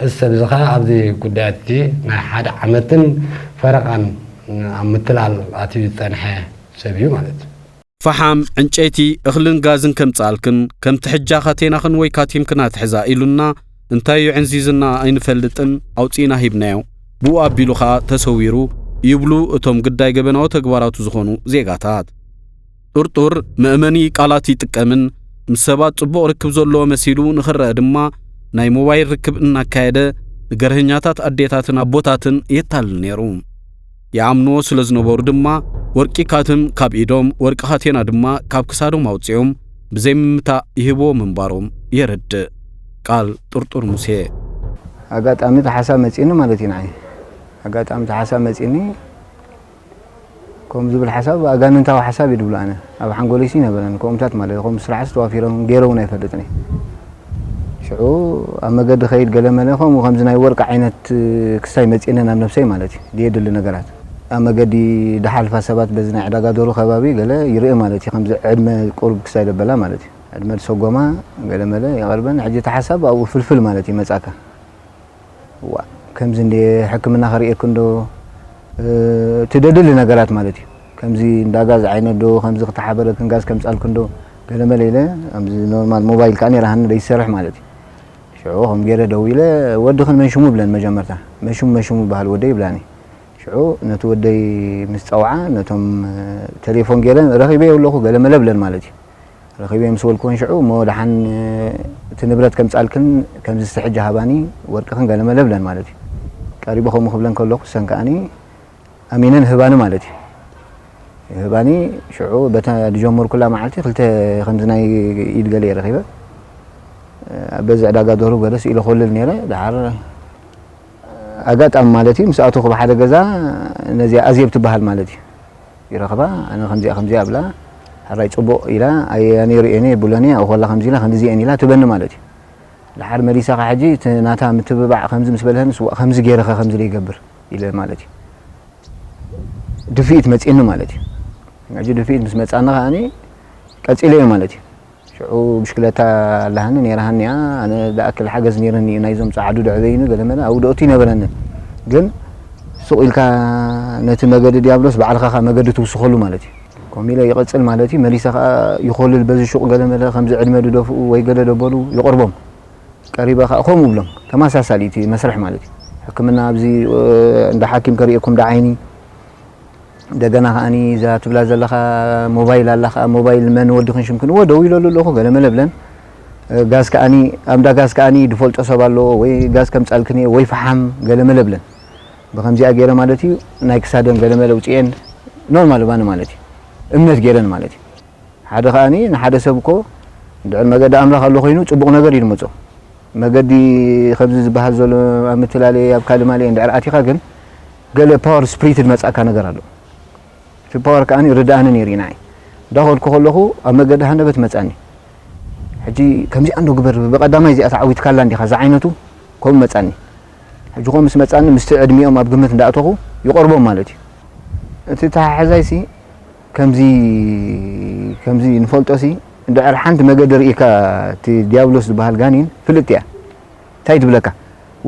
S5: እዚ ሰብ እዚ ከኣ ኣብዚ ጉዳያት እዚ ናይ ሓደ ዓመትን ፈረቓን ኣብ ምትላል ኣትዩ ዝጸንሐ ሰብ ኢዩ ማለት ኢዩ። ፈሓም፣
S3: ዕንጨይቲ፣ እኽልን ጋዝን ከምጽኣልክን፣ ከምቲ ሕጃ ካቴናኽን ወይ ካቲምክን ኣትሕዛ ኢሉና፣ እንታይ የዕንዚዝና ኣይንፈልጥን ኣውፂእና ሂብናዮ ብኡ ኣቢሉ ከዓ ተሰዊሩ ይብሉ እቶም ግዳይ ገበናዊ ተግባራቱ ዝኾኑ ዜጋታት። ጥርጡር መእመኒ ቃላት ይጥቀምን ምስ ሰባት ፅቡቕ ርክብ ዘለዎ መሲሉ ንኽረአ ድማ ናይ ሞባይል ርክብ እናካየደ ንገርሀኛታት ኣዴታትን ኣቦታትን የታልል ነይሩ። ይኣምንዎ ስለ ዝነበሩ ድማ ወርቂ ካትም ካብ ኢዶም ወርቂ ካቴና ድማ ካብ ክሳዶም ኣውፂኦም ብዘይምምታእ ይህብዎ ምንባሮም የረድእ ቃል ጥርጡር ሙሴ። ኣጋጣሚ
S6: እቲ ሓሳብ መፂኒ ማለት እዩ ንዓይ ኣጋጣሚ እቲ ሓሳብ መፂኒ ከምኡ ዝብል ሓሳብ ኣጋንንታዊ ሓሳብ እዩ ድብሎ ኣነ ኣብ ሓንጎለይሲ ይነበረን ከምኡታት ማለት ከምኡ ስራሕስ ተዋፊሮም ገይረውን ኣይፈልጥን እዩ ሽዑ ኣብ መገዲ ከይድ ገለመለ ከምኡ ከምዚ ናይ ወርቂ ዓይነት ክሳይ መጺእኒ ናብ ነብሰይ ማለት እዩ ድየድሊ ነገራት ኣብ መገዲ ድሓልፋ ሰባት በዚ ናይ ዕዳጋ ዶሩ ከባቢ ገለ ይርኢ ማለት እዩ ከምዚ ዕድመ ቁሩብ ክሳይ ደበላ ማለት እዩ ዕድመ ድሰጎማ ገለመለ የቐርበን ሕጂ እቲ ሓሳብ ኣብኡ ፍልፍል ማለት እዩ ይመጻካ ዋእ ከምዚ እንድየ ሕክምና ከርእየኪ እንዶ እቲ ደድሊ ነገራት ማለት እዩ ከምዚ እንዳ ጋዝ ዓይነት ዶ ከምዚ ክተሓበረክን ጋዝ ከምጻልኪ እንዶ ገለመለ ኢለ ኣብዚ ኖርማል ሞባይል ከኣ ነይራ ሃኒ ዘይትሰርሕ ማለት እዩ ሽዑ ከም ገይረ ደዊለ ወድኽን መን ሽሙ ይብለን መጀመርታ መን ሽሙ መን ሽሙ ይበሃል ወደይ ይብላኒ ሽዑ ነቲ ወደይ ምስ ጸውዓ ነቶም ተሌፎን ገይረ ረኺበዮ ኣለኹ ገለመለ ብለን ማለት እዩ ረኺበዮ ምስ በልክወን ሽዑ እሞ ደሓን እቲ ንብረት ከምጻልክን ከምዚ እስቲ ሕጂ ሃባኒ ወርቅኽን ገለ መለ እብለን ማለት እዩ። ቀሪበ ከምኡ ክብለን ከለኹ እሰን ከኣኒ ኣሚነን ይህባኒ ማለት እዩ። ይህባኒ ሽዑ በታ ዝጀመርኩላ መዓልቲ ክልተ ከምዚ ናይ ኢድ ገለ እየ ረኺበ። ኣብ በዚ ዕዳጋ ደርሁ ገለ ስኢለ ኮልል ነይረ ደሓር ኣጋጣሚ ማለት እዩ ምስ ኣተኹ ብሓደ ገዛ ነዚኣ ኣዜብ ትበሃል ማለት እዩ ይረኽባ ኣነ ከምዚኣ ከምዚኣ እብላ ሐራይ ጽቡቅ ኢላ ኣየ ኣነ ሪኤኒ የብሎን እየ ኣብኡ ከላ ከምዚ ኢላ ክንድዚ እየን ኢላ ትበኒ ማለት እዩ ድሓር መሊሳ ከ ሕጂ እቲ ናታ ምትብባዕ ከምዚ ምስ በልሀንስ ዋእ ከምዚ ጌረ ከ ከምዚ ደይገብር ኢለ ማለት እዩ ድፍኢት መጺኒ ማለት እዩ ሕጂ ድፍኢት ምስ መጻኒ ከኣ ቀጺለዮ ማለት እዩ። ሽዑ ብሽክለታ ኣላሃኒ ነይራሃኒ'ያ፣ ኣነ ዝኣክል ሓገዝ ነይሩኒ'ዩ፣ ናይዞም ጸዓዱ ደዕበዩኒ ገለመለ ኣውደኦቲ ኣይነበረንን፣ ግን ሱቕ ኢልካ ነቲ መገዲ ድያብሎስ ባዕልኻ ከኣ መገዲ ትውስኸሉ ማለት'ዩ። ከምኡ ኢለ ይቕጽል ማለት'ዩ፣ መሊሰ ከኣ ይኾልል በዚ ሹቕ ገለመለ ከምዚ ዕድመ ድደፍኡ ወይ ገለ ደበሉ ይቐርቦም፣ ቀሪበ ከኣ ከምኡ እብሎም፣ ተመሳሳሊ'ቲ መስርሕ ማለት'ዩ፣ ሕክምና ኣብዚ እንዳ ሓኪም ከርእየኩም ድዓይኒ፣ እንደገና ከኣኒ እዛ ትብላ ዘለኻ ሞባይል ኣላ ከኣ ሞባይል መን ወዲኽን ሽምክን እወ ደዊለሉ ኣለኹ ገለመለ ብለን ጋዝ ከኣኒ ኣብንዳ ጋዝ ከኣኒ ድፈልጦ ሰብ ኣሎ ወይ ጋዝ ከምጻልክን እየ ወይ ፈሓም ገለመለ ብለን ብከምዚኣ ገይረ ማለት እዩ ናይ ክሳደን ገለመለ ውፅኤን ኖርማል ባኒ ማለት እዩ እምነት ገይረን ማለት እዩ ሓደ ከኣኒ ንሓደ ሰብ እኮ ድዕር መገዲ ኣምላኽ ኣሎ ኮይኑ ፅቡቕ ነገር እዩ ድመፆ መገዲ ከምዚ ዝበሃል ዘሎ ኣብ ምትላለየ ኣብ ካልእ ማልየ እንድዕር ኣቲኻ ግን ገለ ፓወር ስፕሪት ዝመጻካ ነገር ኣሎ እቲ ፓወር ከኣ ርድኣኒ ነይሩ እዩ ንዓይ እንዳኸድኩ ከለኹ ኣብ መገዲ ሃንደበት መጻኒ ሕጂ ከምዚኣ እንዶ ግበር ብቐዳማይ እዚኣ ተዓዊትካላ እንዲኻ ዝዓይነቱ ከምኡ መጻኒ ሕጂ ከምኡ ምስ መጻኒ ምስቲ ዕድሚኦም ኣብ ግምት እንዳእተኹ ይቐርቦም ማለት እዩ እቲ ተሓሕዛይሲ ከምዚ ከምዚ ንፈልጦሲ እንድሕር ሓንቲ መገዲ ርኢካ እቲ ዲያብሎስ ዝበሃል ጋኒን ፍልጥቲ እያ ታይ ትብለካ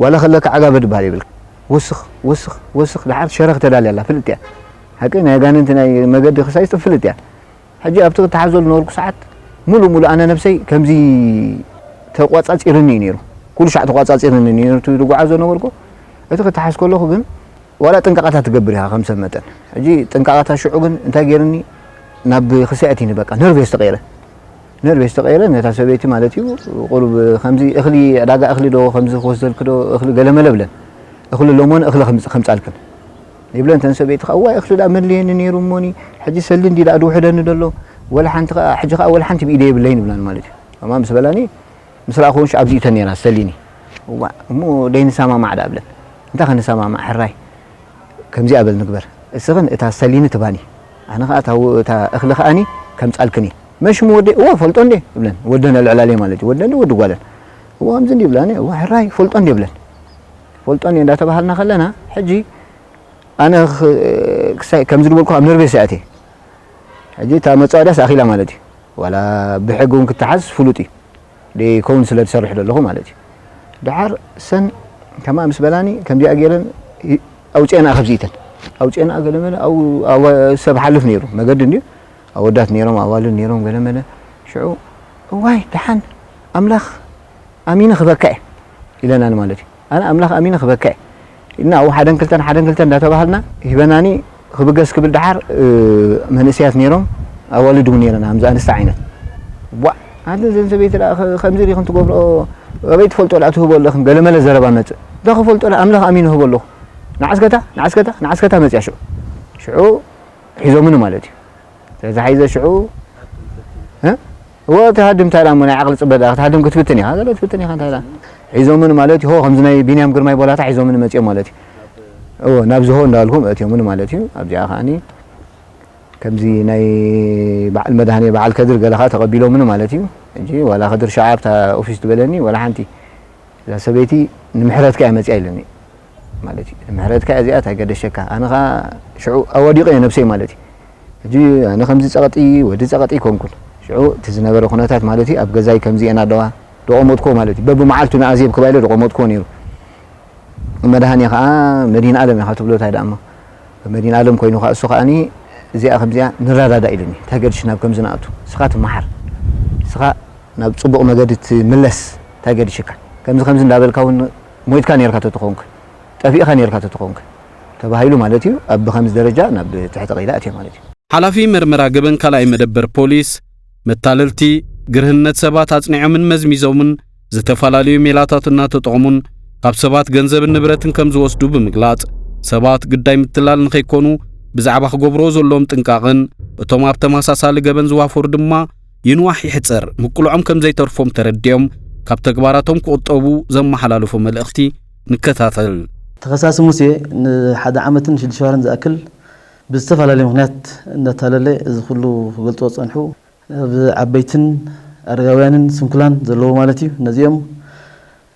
S6: ዋላ ከለካ ዓጋመ ድባሃል የብልካ ወስኽ ወስኽ ወስኽ ዳሓር ሸረኽ ተዳልያ ኣላ ፍልጥ እያ ሓቀይ ናይ ኣጋንንቲ ናይ መገዲ ክሳይስጢ ፍልጥ እያ ሕጂ ኣብቲ ክታሓዞ ልነበርኩ ሳዓት ሙሉእ ሙሉእ ኣነ ነብሰይ ከምዚ ተቋጻጺርኒ እዩ ነይሩ ኩሉ ሻዕ ተቋጻጺርኒ ነይሩ እቲ ድጓዓዞ ዝነበርኩ እቲ ክታሓዝ ከለኹ ግን ዋላ ጥንቃቐታት ትገብር ኢኻ ከም ሰብ መጠን ሕጂ ጥንቃቐታት ሽዑ ግን እንታይ ገይርኒ ናብ ክሳየት እዩኒ በቃ ነርቨስ ተቐይረ ነርቤ ዝተቐየረ ነታ ሰበይቲ ማለት እዩ ቁሩብ ከምዚ እኽሊ ዕዳጋ እኽሊ ዶ ከምዚ ክወስደልኪ ዶ እኽሊ ገለመለ ብለን እኽሊ ሎሞን እኽሊ ከምጻልክን ይብለን ተን ሰበይቲ ከኣ ዋይ እኽሊ ደኣ መድልየኒ ነይሩ እሞኒ ሕጂ ሰሊ እንዲ ደኣ ድውሕደኒ ደሎ ወላ ሓንቲ ከኣ ሕጂ ከኣ ወላ ሓንቲ ብኢደይ የብለይን ይብላኒ ማለት እዩ ከምኣ ምስ በላኒ ምስ ረኣኹወን ሽዓ ኣብዚኡ ተን ነይራ ሰሊኒ እዋእ እሞ ደይንሰማማዕ ደኣ ብለን እንታይ ክንሰማማዕ ሕራይ ከምዚኣ በል ንግበር እስኽን እታ ሰሊኒ ትባኒ ኣነ ከኣ እታ እታ እኽሊ ከኣኒ ከምጻልክኒ መን ሽሙ ወደይ እወ እፈልጦ እንዴ እብለን ወደን ኣልዕላለይ ማለት እዩ ወደን ወዲ ጓለን እወ ከምዚ እንዲ ይብላ እኔ እወ ሕራይ እፈልጦ እንዴ እብለን እፈልጦ እንዴ እንዳተባሃልና ከለና ሕጂ ኣነ ክሳይ ከምዚ ዝበልኩ ኣብ ነርቤ ሰያቴ ሕጂ እታ መጻወድያስ ኣኺላ ማለት እዩ ዋላ ብሕጊ እውን ክተሓዝ ፍሉጥ እዩ ደይከውን ስለ ትሰርሕ ደለኹ ማለት እዩ ደሓር ሰን ከምኣ ምስ በላኒ ከምዚኣ ገይረን ኣውፅኤንኣ ከብዚኢተን ኣውፅኤንኣ ገለመለ ኣብ ሰብ ሓልፍ ነይሩ መገዲ እንዲዩ ኣወዳት ነይሮም ኣዋልድ ነይሮም ገለመለ ሽዑ እዋይ ደሓን ኣምላኽ ኣሚነ ክበካ እየ ኢለናኒ ማለት እዩ ኣነ ኣምላኽ ኣሚነ ክበክዕ እና ኡ ሓደን ክልተን ሓደን ክልተን እንዳተባሃልና ሂበናኒ ክብገስ ክብል ደሓር መንእሰያት ኔሮም ኣዋልድ ውን ኔረን ኣምዚ ኣንስቲ ዓይነት ዋእ ኣንተ ዘን ሰበይቲ ደኣ ከምዚ ዲክን ትገብርኦ ኣበይ ትፈልጦ ደኣ ትህቦ ኣለክን ገለመለ ዘረባ መጽእ እንተ ክፈልጦ ደኣ ኣምላኽ ኣሚነ እህቦ ኣለኩ ንዓስ ከታ ንዓስ ከታ ንዓስ ከታ መጽያ ሽዑ ሽዑ ሒዞምኒ ማለት እዩ ስለዚ ሓይዘ ሽዑ እ እወ ትሃድም እንታይ እሞ ናይ ዓቅሊ ጽበት ድኣ ክትሃድም ክትፍትን ኢኻ ዘሎ ትፍትን ኢኻ እንታይ ድኣ ሒዞምን ማለት እዩ ሆ ከምዚ ናይ ቢንያም ግርማይ ቦላታ ሒዞምን መጽዮም ማለት እዩ እወ ናብዚ ሆ እንዳበልኩም ኣእትዮምን ማለት እዩ ኣብዚኣ ከዓኒ ከምዚ ናይ በዓል መድሃኔ በዓል ከድር ገለ ከዓ ተቐቢሎምኒ ማለት እዩ ሕጂ ዋላ ከድር ሸዓ ኣብታ ኦፊስ ትበለኒ ዋላ ሓንቲ እዛ ሰበይቲ ንምሕረትካ እያ መፅያ ኢለኒ ማለት እዩ ምሕረትካ እያ እዚኣ ታይ ገደሸካ ኣነ ከኣ ሽዑ ኣዋዲቀ እየ ነብሰይ ማለት እዩ ሕጂ ኣነ ከምዚ ጸቀጢ ወዲ ጸቀጢ ኣይኮንኩን ሽዑ እቲ ዝነበረ ኩነታት ማለት እዩ ኣብ ገዛይ ከምዚኤን ኣለዋ ደቆሞትኩዎ ማለት እዩ በብመዓልቱ ንኣዜብ ክባ ኢለ ደቆሞትኩዎ ኔሩ መድሃኔ ከኣ መድሂንኣለም ኢካ ትብሎ ታይ ደኣሞ መድሂንኣለም ኮይኑ ከኣ እሱ ከኣኒ እዚኣ ከምዚኣ ንረዳዳእ ኢሉኒ ታይ ገድሽ ናብ ከምዚ ንኣቱ እስካ ትመሓር እስካ ናብ ጽቡቅ መገዲ ትምለስ ታይ ገድሽካ ከምዚ ከምዚ እንዳበልካ ውን ሞይትካ ኔርካ ተተኾንክ፣ ጠፊእኻ ኔርካ ተተኾንክ ተባሂሉ ማለት እዩ ኣብ ብኸምዚ ደረጃ ናብ ትሕቲ ቀይዲ ኣትየ ማለት እዩ። ሓላፊ መርመራ
S3: ገበን ካልኣይ መደበር ፖሊስ፣ መታለልቲ፣ ግርህነት ሰባት ኣጽኒዖምን መዝሚዞምን ዝተፈላለዩ ሜላታት እናተጠቕሙን ካብ ሰባት ገንዘብን ንብረትን ከም ዝወስዱ ብምግላጽ፣ ሰባት ግዳይ ምትላል ንኸይኮኑ ብዛዕባ ክገብርዎ ዘለዎም ጥንቃቕን እቶም ኣብ ተመሳሳሊ ገበን ዝዋፈሩ ድማ ይንዋሕ ይሕጸር ምቅልዖም ከም ዘይተርፎም ተረዲኦም ካብ ተግባራቶም ክቑጠቡ ዘመሓላለፎ መልእኽቲ ንከታተል። ተኸሳሲ
S7: ሙሴ ንሓደ ዓመትን ሽዱሽተ ወርሕን ዝኣክል ብዝተፈላለየ ምኽንያት እንዳታለለ እዚ ኩሉ ክገልጽዎ ዝጸንሑ ኣብ ዓበይትን ኣረጋውያንን ስንኩላን ዘለዉ ማለት እዩ ነዚኦም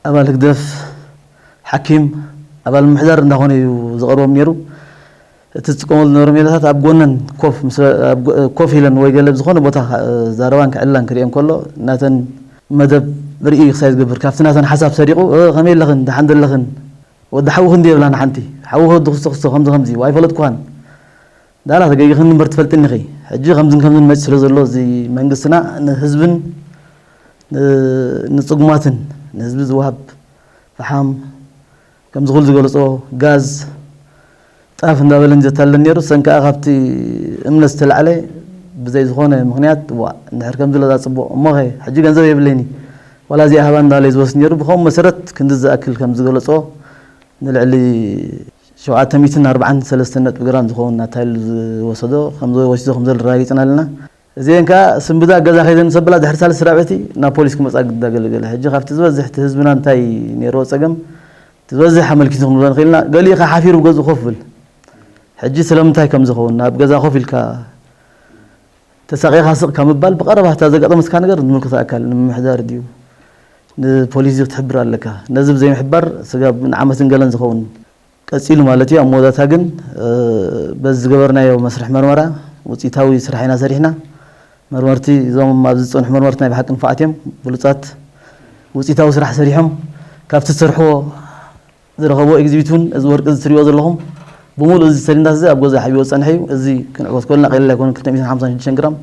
S7: ኣባል ህግደፍ ሓኪም ኣባል ምምሕዳር እንዳኾነ እዩ ዝቐርቦም ኔሩ እቲ ዝጥቀመሉ ዝነበረ ሜላታት ኣብ ጎነን ኮፍ ምስ ኮፍ ኢለን ወይ ገለ ብዝኾነ ቦታ ክዛረባን ክዕልላን ክርእየን ከሎ ናተን መደብ ርእዩ ክሳይ ዝገብር ካብቲ ናተን ሓሳብ ሰሪቑ ከመይ ኣለኽን ደሓን ዶ ኣለኽን ወዲ ሓውኺ እንድየ ይብላ ንሓንቲ ሓውኺ ወዲ ክስቶ ክስቶ ከምዚ ከምዚ ኢዩ ኣይፈለጥኩኻን ዳላ ተገጊኽኒ እምበር ትፈልጥኒ ኢኺ ሕጂ ከምዝን ከምዝን መጺ ስለ ዘሎ እዚ መንግስትና ንህዝብን ንጽጉማትን ንህዝቢ ዝወሃብ ፈሓም ከምዚ ኩሉ ዝገልጾ ጋዝ ጣፍ እንዳበለን ዘታልለን ኔሩ ሰንካኣ ካብቲ እምነት ዝተላዕለ ብዘይ ዝኮነ ምክንያት ዋእ እንድሕር ከምዚ ለዛ ጽቡቅ እሞከ ሕጂ ገንዘብ የብለይኒ ዋላ እዚኣ ሃባ እንዳበለ እዩ ዝወስድ ኔሩ ብከምኡ መሰረት ክንዲ ዝኣክል ከም ዝገለጾ ንልዕሊ ሸውዓተ ሚእትን ኣርብዓን ሰለስተን ነጥቢ ግራም ዝከውን ኣታሊሉ ዝወሰዶ ከም ዝወሲዶ ከም ዘሎ ኣረጋጊጽና ኣለና እዚኤን ከኣ ስንብዳ ገዛ ከይደን ሰብላ ድሕሪ ሳልስቲ ራብዕቲ ናብ ፖሊስ ክመጻ ግድዳ ገለገለ ሕጂ ካብቲ ዝበዝሕ እቲ ህዝብና እንታይ ኔርዎ ጸገም እቲ ዝበዝሕ ኣመልኪቱ ክንብሎ ንክእል ኢና ገሊኡ ከኣ ሓፊሩ ብ ገዝኡ ኮፍ ብል ሕጂ ስለምንታይ ከምዚ ይከውን ኣብ ገዛ ኮፍ ኢልካ ተሳቂካ ስቅ ካብ ምባል ብቀረባ እታ ዘጋጠመትካ ነገር ንምልከቶ ኣካል ንምምሕዳር ድዩ ንፖሊስ ድዩ ክትሕብር ኣለካ ነዚ ብዘይምሕባር ስጋብ ንዓመትን ገለን ዝከውን ቀጺሉ ማለት እዩ። ኣብ መወዳእታ ግን በዚ ዝገበርናዮ መስርሕ መርመራ ውጽኢታዊ ስራሕ ኢና ሰሪሕና። መርመርቲ እዞም ኣብዚ ዝጸንሑ መርመርቲ ናይ ብሓቂ ንፉዓት እዮም፣ ብሉጻት ውጽኢታዊ ስራሕ ሰሪሖም። ካብቲ ዝሰርሕዎ ዝረኸብዎ ኤግዚቢት እውን እዚ ወርቂ እዚ ትርእይዎ ዘለኹም ብምሉኡ እዚ ሰሊንዳስ እዚ ኣብ ገዝኡ ሓቢእዎ ዝጸንሐ እዩ። እዚ ክንዕወት ከሎና ቀሊል ኣይኮነን ክልተ ሚእትን ሓምሳን ሽዱሽተን ግራም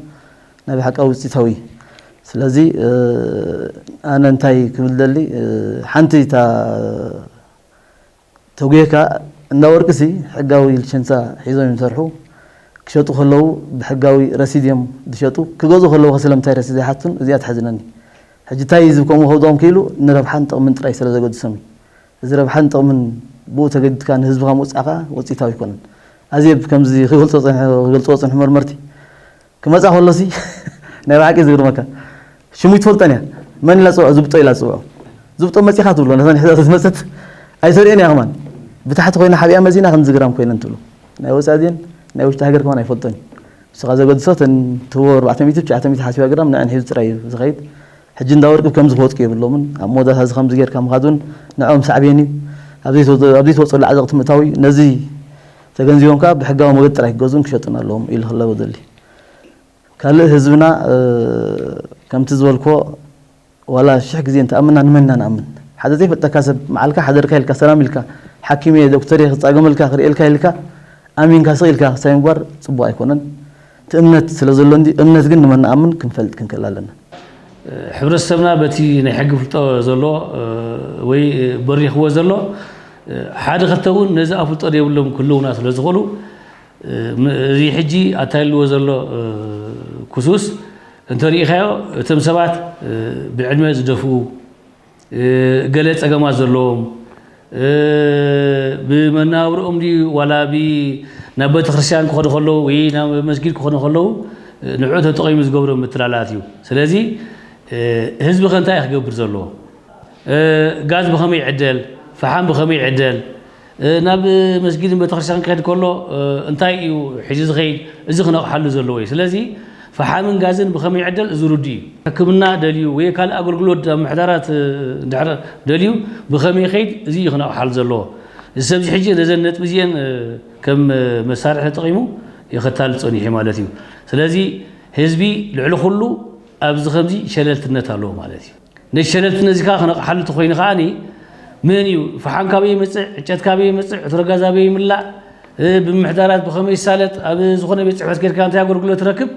S7: ናይ ብሓቂ ውጽኢታዊ ስለዚ ኣነ እንታይ ክብል እደሊ ሓንቲ እታ ተጉየካ እንዳ ወርቂ ሲ ሕጋዊ ልቸንሳ ሒዞም እዮም ዝሰርሑ ክሸጡ ከለዉ ብሕጋዊ ረሲድ እዮም ዝሸጡ ክገዝኡ ከለዉ ከ ስለምንታይ ረሲድ ዘይሓቱን እዚኣ ተሕዝነኒ ሕጂ ታይ ህዝቢ ከምኡ ከውድቆም ክኢሉ ንረብሓን ጥቅምን ጥራይ ስለ ዘገድሶም እዩ እዚ ረብሓን ጥቅምን ብኡ ተገዲድካ ንህዝብካ ምውጻእ ከኣ ውጺኢታዊ ኣይኮነን ኣዜብ ከምዚ ክገልጾ ጸኒሑ ክገልጽዎ ዝጸንሑ መርመርቲ ክመጻ ከሎሲ ናይ ብሓቂ ዝግርመካ ሽሙ ይትፈልጠን እያ መን ኢላ ጽውዖ ዝብጦ ኢላ ጽውዖ ዝብጦ መጺኻ ትብሎ ነታ ንሕዛ ዝመጸት ኣይተርእን እያ ከማን ብታሕቲ ኮይና ሓቢኣ መዚና ከም ዝግራም ኮይነን ትብሎ ናይ ወጻኢ ዜን ናይ ውሽጢ ሃገር ከማን ኣይፈልጦን እዩ ንስኻ ዘገድሶ እተን ትህቦ ኣርባዕተ ሚእቲ ትሽዓተ ሚእቲ ሓሲባ ግራም ንዕን ሒዙ ጥራይ እዩ ዝኸይድ ሕጂ እንዳ ወርቂ ከምዚ ክወጥቁ የብሎምን ኣብ መወዳእታ እዚ ከምዚ ጌርካ ምኻድ እውን ንዕኦም ሳዕቤን እዩ ኣብ ዘይተወጸሉ ዓዘቕቲ ምእታው እዩ ነዚ ተገንዚቦም ከኣ ብሕጋዊ መገዲ ጥራይ ክገዝኡን ክሸጡን ኣለዎም ኢሉ ክለበ ደሊ። ካልእ ህዝብና ከምቲ ዝበልክዎ ዋላ ሽሕ ግዜ እንተኣመና ንመን ኢና ንኣምን? ሓደ ዘይፈልጠካ ሰብ መዓልካ ሓደርካ ኢልካ ሰላም ኢልካ ሓኪም እየ ዶክተር እየ ክጻገመልካ ክርእየልካ ኢልካ ኣሚንካ ስቕ ኢልካ ክሳይ ምግባር ጽቡቕ ኣይኮነን። እቲ እምነት ስለ ዘሎ እንድዩ፣ እምነት ግን ንመን ንኣምን ክንፈልጥ ክንክእል ኣለና።
S8: ሕብረተሰብና በቲ ናይ ሕጊ ፍልጦ ዘሎ ወይ በሪኽዎ ዘሎ ሓደ ክልተ እውን ነዚ ኣፍልጦ ዘይብሎም ክህልዉና ስለ ዝኽእሉ እዚ ሕጂ ኣታልልዎ ዘሎ ክሱስ እንተሪኢኻዮ እቶም ሰባት ብዕድመ ዝደፍኡ ገለ ጸገማት ዘለዎም ብመነባብርኦም ድዩ ዋላ ናብ ቤተክርስትያን ክኸዱ ከለዉ ወይ ናብ መስጊድ ክኾኑ ከለዉ ንዕኡ ተጠቒሙ ዝገብሮ ምትላላት እዩ። ስለዚ ህዝቢ ከ እንታይ እዩ ክገብር ዘለዎ? ጋዝ ብኸመይ ይዕደል? ፈሓም ብኸመይ ይዕደል? ናብ መስጊድን ቤተክርስትያንን ክኸድ ከሎ እንታይ እዩ ሒዙ ዝኸይድ እዚ ክነቕሓሉ ዘለዎ እዩ። ስለዚ ፈሓምን ጋዝን ብኸመይ ይዕደል እዚ ርዱእ እዩ። ሕክምና ደልዩ ወይ ካልእ ኣገልግሎት ኣብ ምሕዳራት እንድሕር ደልዩ ብኸመይ ይኸይድ እዚ እዩ ክነቕሓሉ ዘለዎ። እዚ ሰብ እዚ ሕጂ ነዘን ነጥቢ እዚኤን ከም መሳርሒ ተጠቒሙ እዩ ከታልል ጸኒሑ ማለት እዩ። ስለዚ ህዝቢ ልዕሊ ኩሉ ኣብዚ ከምዚ ሸለልትነት ኣለዎ ማለት እዩ። ነዚ ሸለልቲ ነዚ ከኣ ክነቕሓሉ ተኾይኑ ከኣ መን እዩ ፈሓም ካበይ ይመፅእ ዕጨት ካበይ ይመፅእ ዕትሮ ጋዝ ኣበይ ይምላእ ብምምሕዳራት ብኸመይ ይሳለጥ ኣብ ዝኾነ ቤት ፅሕፈት ኬድካ እንታይ ኣገልግሎት ትረክብ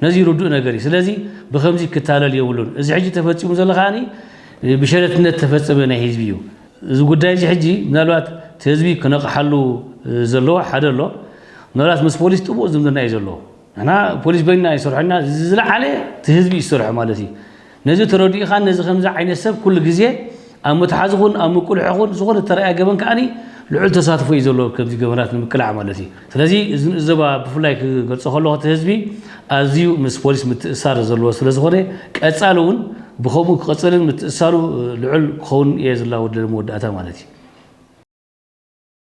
S8: ነዚ ርዱእ ነገር እዩ ስለዚ ብከምዚ ክታለል የብሉን እዚ ሕጂ ተፈፂሙ ዘሎ ከኣ ብሸለልትነት ተፈፀመ ናይ ህዝቢ እዩ እዚ ጉዳይ እዚ ሕጂ ምናልባት እቲ ህዝቢ ክነቕሓሉ ዘለዎ ሓደ ኣሎ ምናልባት ምስ ፖሊስ ጥቡቕ ዝምድና እዩ ዘለዎ ንሕና ፖሊስ በይንና እዩ ዝሰርሖ እና እዚ ዝለዓለ እቲ ህዝቢ እዩ ዝሰርሖ ማለት እዩ ነዚ ተረዲእኻን ነዚ ከምዚ ዓይነት ሰብ ኩሉ ግዜ ኣብ መትሓዚ ኹን ኣብ ምቁልሖ ኹን ዝኾነ እተረኣየ ገበን ከዓኒ ልዑል ተሳትፎ እዩ ዘለዎ ከምዚ ገበናት ንምቅላዕ ማለት እዩ ስለዚ እዚ ንእዘባ ብፍላይ ክገልፆ ከለኹ እቲ ህዝቢ ኣዝዩ ምስ ፖሊስ ምትእሳር ዘለዎ ስለ ዝኾነ ቀፃሊ እውን ብከምኡ ክቐፅልን ምትእሳሩ ልዑል ክኸውን እየ ዝላወደለ መወዳእታ ማለት እዩ